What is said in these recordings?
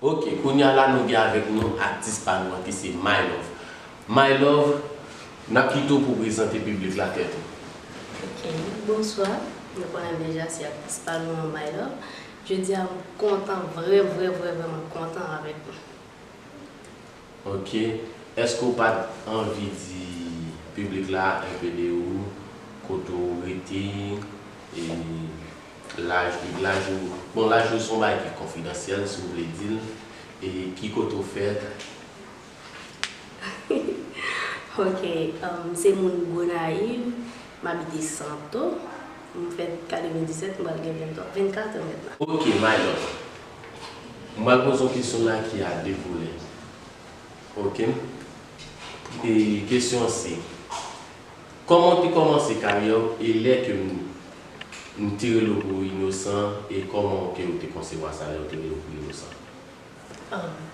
Ok kounya la nou gen avèk nou atis pa nou an ki se my love my love nap kite w pou w prezante piblik la tèt ou. Ok bonswa nou konnen deja se atis pa nou an my love jodia m kontan vrèvrèvrèvreman kontan avèk nou. Ok eske ou pat anvi di piblik la enpe de ou kote ou rete e laj ou laj ou bon laj ou se yon bagay ki konfidansyèl si ou vle dil e ki kote ou fèt. Ok m se moun Gonayiv m abite Santo m fèt 97 m pral gen 24 an mèt la. Ok my love M pral poze yon kesyon la ki a 2 volè ok e kesyon an se Kòman w te kòmanse karyè w e lè ke m m te rele w pou w inosan e kòman w ke w te konsevwa sa lè w te rele w pou w inosan? An.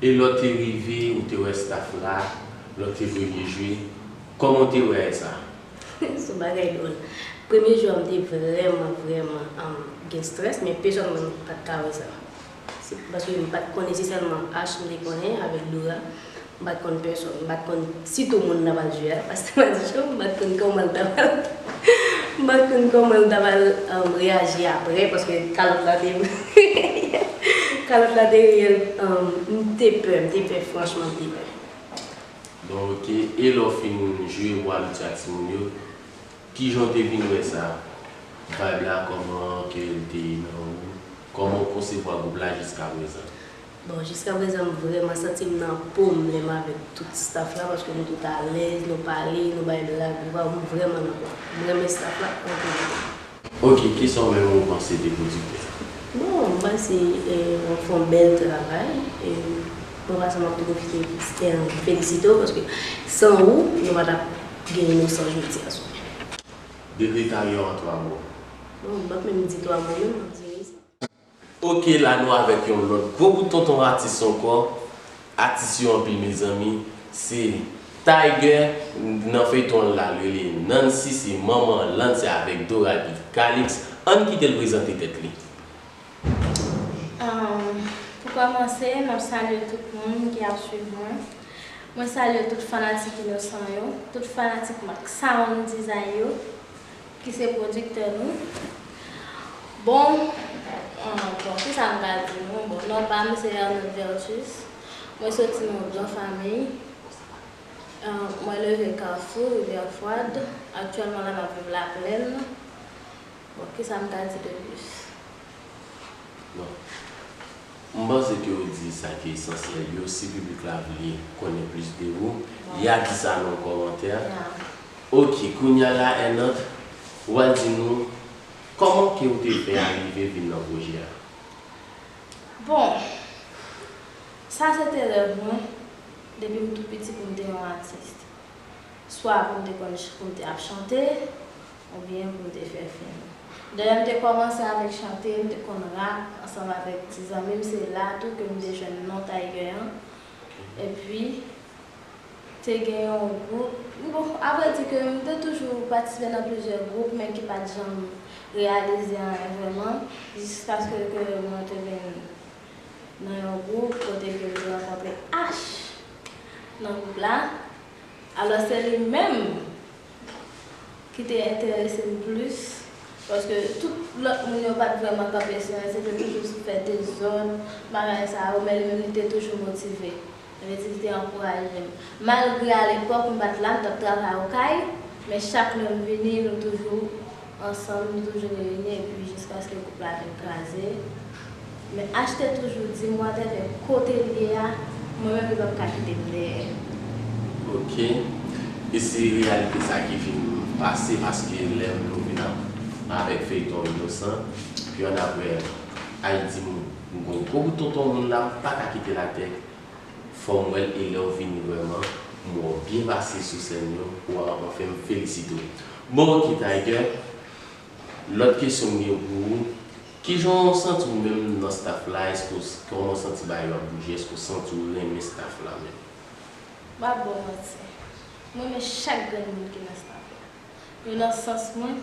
E lè w te rive ou te wè staff la, lè w te premye jwe, kòman w te wè sa? Son bagay dwòl. Premye jwe a m te vrèman vrèman gen strès men pe janm m pat ka wè sa. Se paske m pat konnen se sèlman Ash m te konnen avèk Dora. M pat konn pèsòn. M pat konn Sitou moun nan Madiu a, pastè Madichon, m pat konn kòman l ta pral m pat konn kòman l ta pral reyaji aprè paske kalòt la te reyèl kalòt la te reyèl m te pè m te pè franchman m te pè. Bon ok, e lè w fin jwe Roi Luti ak timoun yo, kijan w te vin wè sa, vibe la kòman, kè l te nan ou, kòman w konsevwa gwoup la jiskaprezan? Bon jiska prezan m vrèman santi m nan po m lè m avèk tout staff la paske nou tout alèz nou pale nou bay blag waw m vrèman nan po m renmen staff la anpil. Ok kisa w menm ou panse de pwodiktè a? Bon m panse wap fè yon bèl travay e mwen pase map pwofite felisite w paske san ou nou pa tap gen inosan jodi a sou. Depi ta gen yon 3 mo. Bon m pap menm di 3 mo menm map di inosan. Ok la nou avèk yon lòt gwo kout tonton atis ankò atis yo anpil mezanmi se Tiger nan feyton an lal rele Nancy se manman Lan se avèk Dora ki Calix ann kitel prezante tèt li. Pou kòmanse map salye tout moun ki ap swiv mwen mwen salye tout fanatik inosan yo tout fanatik max sound dizay yo. Ki se producteur nou. Bon bon ki sa m ka di nou bon non pa m se Ernel Vertus mwen soti nan yon gran famiy mwen leve Kafou Rivière Froide aktyèlman la m ap viv Laplèn bon ki sa m ka di de plis. Non. M panse ke ou di sa ki esansyèl yo, si piblik la vle konnen plis de ou, ya di sa nan yon kòmantè. Ok, kounya la Ernant, ou al di nou kòman ke ou te fè arive vin nan pwojè a? Bon, sa se te rèv mwen depi m tou piti pou m te yon atis. Swa pou m te konn pou m te ap chante. Ou byen pou w te fè fim. Dayè m te kòmanse avèk chante, m te konn rap ansanm avèk ti zanmi m se la tou ke m te jwenn non Tiger an. Epi te gen yon gwoup, bon a vrè di ke m te toujou patisipe nan plizyè gwoup men ki pat janm reyalize anyen vrèman jiskaske ke mwen te vin nan yon gwoup kote ke m te rankontre Ash nan gwoup la. Alò se li menm. ki te enterese m plis, paske tout lòt moun yo pat vrèman kanpe sou anyen, se te toujou sou fè dezòd, bagay sa yo, men li menm li te toujou motive. Sa vle di li te ankouraje m. Malgre alepòk m pat la, m t ap travay okay, men chak lè m vini nou toujou Ansanm nou toujou reyini epi jiskaske koup la vin kraze. Men HT toujou di m wate men kote l ye a mwen menm li pap ka kite m dèyè. Ok. E se reyalite sa ki vin pase paske lè nou vin ap avèk feyton Inosan pi annapre Ayiti m gon gwo bout tonton moun la m paka kite l atè Fòm wèl e lèw vini vrèman m wèw byen pase sou sèn yo waw anfen m felisite w bon ok Tiger lòt kesyon m gen pou ou kijan w santi w menm nan staff la èske w kòman w santi bagay yo ap bouje èske w santi w renmen staff la menm. Map baw manti m renmen chak grenn moun ki nan staff la yo nan sans mwen.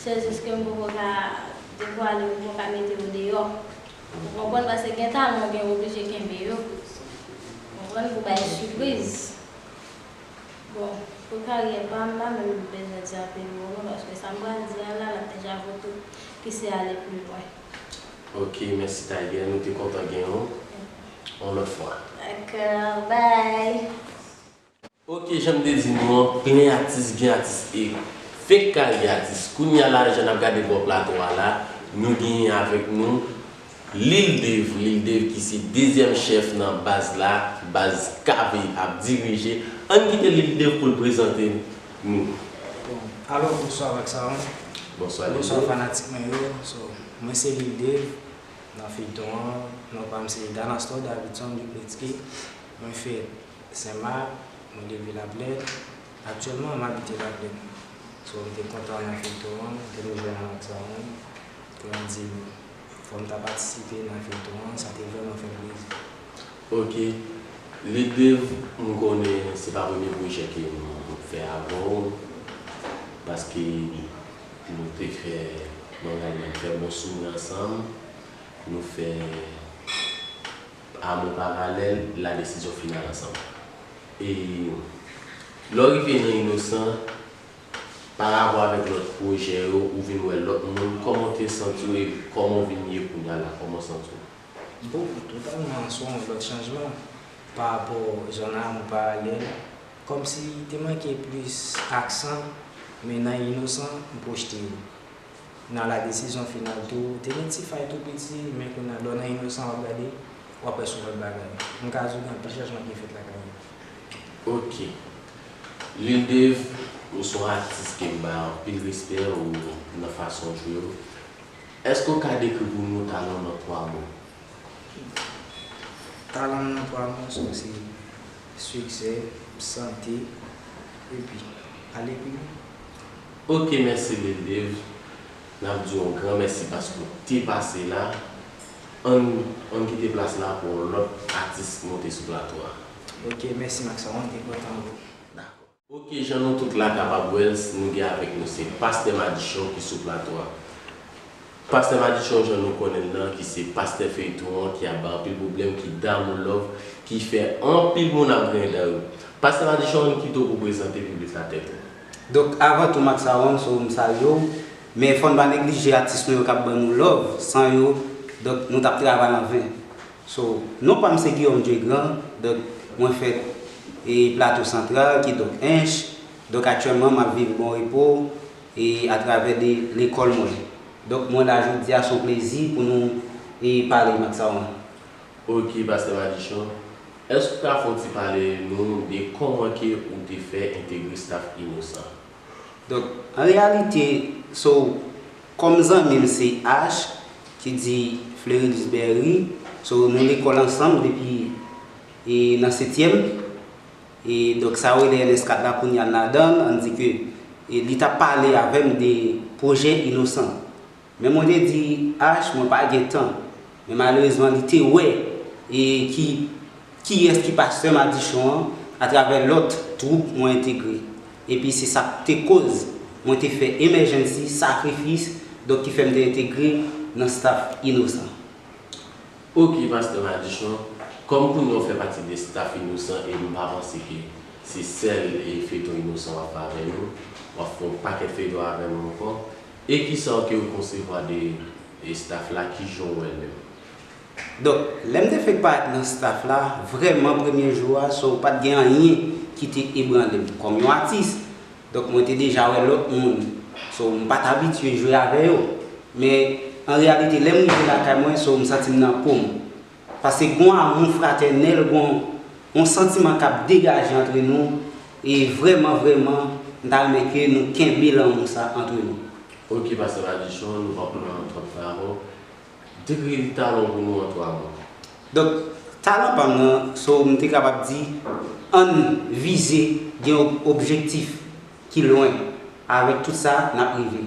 Se jis ke m poko ka devwale m poko ka mete yo deyò ou konprann paske gen talan ou gen oblije kenbe yo konprann pou bay sipriz bon pou karyè pa m pa menm bezwen di anpil mo non paske sa m pral di an la l ap deja vo tout ki se ale pli lwen. Ok mèsi Tiger nou te kontan gen ou on lòt fwa. Dakò bye. Ok janm te di nou an plen atis gen atis e fenk ka li atis kounya la jan nap gade bò plato a la nou genyen avèk nou Lil Dave Lil Dave ki se dezyèm chèf nan baz la baz KB ap dirije ann kite Lil Dave poul prezante nou. Bon alò bonswa Vaksaron Bonswa Lil Dave Bonswa fanatik mwen yo so mwen se Lil Dave nan feyton an non pam se Danastor Davidson Dupletsky mwen fè. Sen Mak, mwen depi Laplèn. Aktyèlman m abite Laplèn. So m te kontan wè yon feyton an, m te nou jwenn avèk sa menm pou m di nou fò m ta patisipe nan feyton an, sa te vrèman fè m plezi. Ok Lidev m konnen se pa premye pwojè ke m ap fè avè w paske nou te fè Manganya m fè bon souvni ansanm, nou fè. Amou paralèl la desizyon final ansanm. E lè w rive nan inosan, parapò avèk lòt pwojè yo, ou vin wè lòt moun, kòman w te santi w e kòman w vin ye kounya la, kòman w santi w? Bon, totalman sou yon lòt chanjman parapò jan nan Amou paralèl, kòmsi te manke plis aksan, men nan inosan m pwojte yo. Nan la desizyon final tou te gen ti fay tou piti men kounya lè w nan inosan wap gade wap wè son lòt bagay. M ka di w gen anpil chanjman ki fèt lakay yo. Ok Lil Dave ou son atis kem bay anpil respè ou nan fason w jwe yo eske w ka dekri pou nou talan w nan 3 mo? Talan m nan 3 mo sa se siksè, sante epi ale pi lwen. Ok mèsi Lil Dave nap diw yon gran mèsi paske ou te pase la ann ann kite plas la pou yon lòt atis monte sou plato a. Ok mèsi Maxon ann gen pran tan nou. Dakò. Ok jan nou tout la kapab wèl s nou gen avèk nou se Pastè Madichon ki sou plato a. Pastè Madichon jan nou konnenl lan ki se pastè feyton an ki ap bay anpil pwoblèm ki damou love ki fè anpil moun ap griyen dan yo. Pastè Madichon ann kite w pou prezante piblik la tèt ou. Donk avan tou Max Aronso m salye w, men fò n pa neglije atis nou yo k ap ban nou love, san yo donk nou t ap travay an ven. So, non pa m se Guillaume Dieu Grand, donk mwen fèt e Plato Santral ki donk Ench, donk aktyèlman m ap viv Bon Repo e atravè de lekòl mwen. Donk mwen la jodi a s on plezi pou nou e pale Max Aron. Ok Pastè Madichon, Èske ou ka fon ti pale nou de kòman ke ou te fè entegre staf Inosan? Donk, an reyalite, so, kòm zanmi m se Ash, ki di Flerilus Berry, so, nou lekòl ansanm depi e nan setyèm, e donk sa yo rele NS4 la kounye a n ladan l, an n di ke e li t ap pale avè m de pwojè Inosan. Men mwen te di Ash mwen pa gen tan. Men malerezman li te wè e ki kiyès ki pastè madichon an atravè lòt twoup mwen entegre. Epi se sa k te koz mwen te fè emèjènsi sakrifis donk ki fè m te entegre nan staf Inosan. Ok pastè madichon, kòm kounya ou fè pati de staf Inosan e m pa panse ke se sèl feyton Inosan w ap fè avè nou, w ap fè yon pakèt feyton avè nou ankò, E kisa w ke w konsevwa de estaf la kijan w wè l menm? Donk lè m te fenk parèt nan staf la vrèman premye jou a so pat gen anyen ki te ebranle m kòm yon atis donk mwen te deja wè lòt moun so m pat abitye jwe avè yo men an reyalite lè m rive lakay mwen so m santi m nan po m Paske gon amou fratènèl, gon yon santiman k ap degaje antre nou e vrèman vrèman m ta renmen ke nou kenbe lanmou sa antre nou. Ok pastè Madichon, nou pa pran twòp tan avè w. Dekri talan w pou nou an 3 mo. Donk, talan pa m nan, so m te kapab di, ann vize gen yon objektif ki lwen, avèk tout sa, n ap rive.